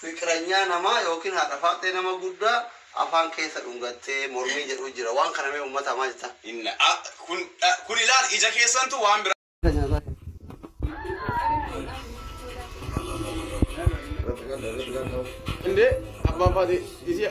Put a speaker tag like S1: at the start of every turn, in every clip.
S1: Fiqranyaa namaa yookiin haadha faaxee nama guddaa afaan keessa dhungattee mormii jedhuu jira waan kana mee ummata maa jettaan. Hin a kun
S2: dha kun ilaali ija keessantu waan biraa. Indee abbaan faatee isii.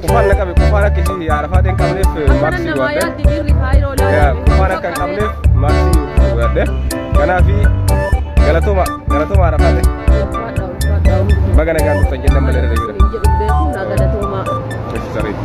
S3: Kufaan na qabe kufaan akka ishii haarafaa ta'e hin qabneef maaksii waadde. Kufaan akka hin qabneef maaksii waadde. Kanaaf galatooma galatooma haarafaa ta'e. Baga nagaan dhuftan jennaan malee irra jira. Jechi sariiti.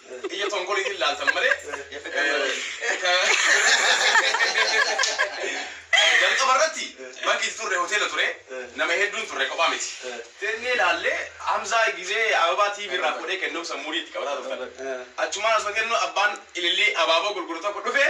S2: Ija tonkoliitiin laaltan malee ka jalqaba irratti bakki itti turre hoteela ture nama hedduun turre kophaa miti. Teennee laallee Hamzaa gizee ababaa TV irraa fuudhee kennuuf sammuudii itti qabataa turtan. Achumaan osoo kennu abbaan ilillii abaaboo gurguru tokko dhufee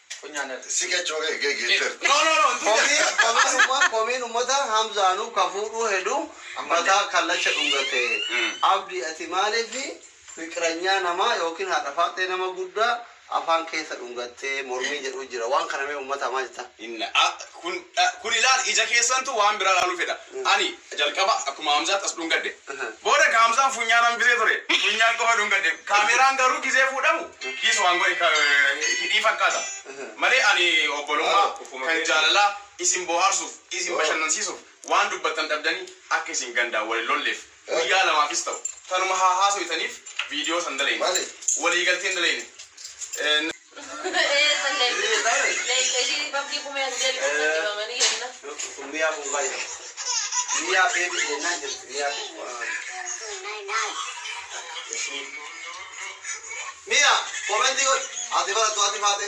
S2: Funyaa natti si
S4: qechoo kee kee geetterti. No no no ntuu Komii jedhe. komiin umma
S1: komiin ummata hamzaanu ka fuudhuu heduu mataa kallacha dhungate abdi ati maalifi fiqiranyaa namaa yookiin haadha faaxee nama guddaa afaan keessa dhungattee mormii jedhuu jira waan kana mee ummata maa jettaan. Inna a. Kun,
S2: kun ilaali, ija keessantu waan biraa ilaaluu fedha. Ani, jalqaba akkuma Hamzaatti as dhungadhe. Booda ka Hamzaan funyaan hambisee ture, funyaan qofa dhungadhe. Kaameraan garuu gizee fuudhamu, kiis waan godhe ka, hidhii fakkaata. Malee ani obbolummaa, kan jaalalaa, isin bohaarsuuf, isin bashannansiisuuf, waan dubbattan dhabdanii akka isin gandaan wal hin lolleef, Guyyaa lamaafis ta'u tanuma haa haasoytaniif video san dalayne. Waliigalteen dalayne.
S1: Miya! Comment godhi! Ati barattu ati faate!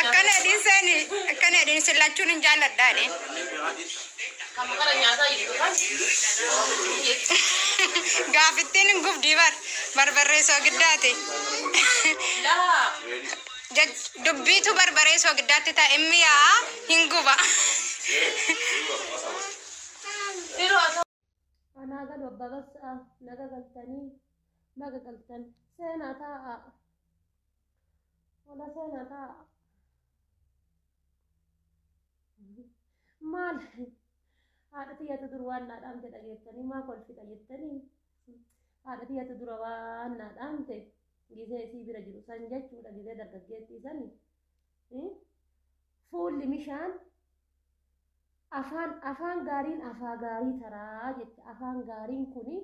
S5: Akkana edin seeni akkana edin isin lachuun hin jaalladhaani. Gaafittiin hin gubdii bar barbarree soogiddaati.
S6: Jech-
S5: Dubbiitu barbaree soogiddaatti ta'a immi yaa'a hin guba.
S6: Anaa galu abbaa bassa'a naga galtanii baga galtan seenaa taa'a wala seenaa taa'a maal haadha tiyyatu dur waan naa dhaamte dhageettanii maa kolfita jettanii haadha tiyyatu dura waan naa dhaamte gisee isii bira jiru san jechuudha gisee dargaggeettii sani fuulli mishaan Afaan afaan gaariin afaa gaarii taraa jette afaan gaariin kuni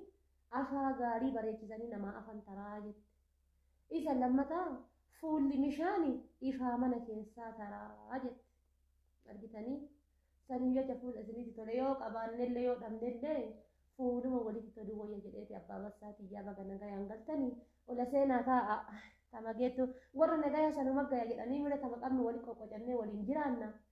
S6: afaa gaarii bareechisanii namaa afan taraa jette isa lammataa fuulli mishaani ifaa mana keessaa taraa jette argitanii saniif jecha fuula isinitti tole yoo qabaannellee yoo dhabnellee fuuluma walitti toluu wayya jedheeti abbaa barsaa tiyyaa baga nagayaan galtanii ola seenaa taa'a tama geettu warra nagayaa sanuma gaya jedhanii mira tama qabnu wali qoqqocannee waliin jiraanna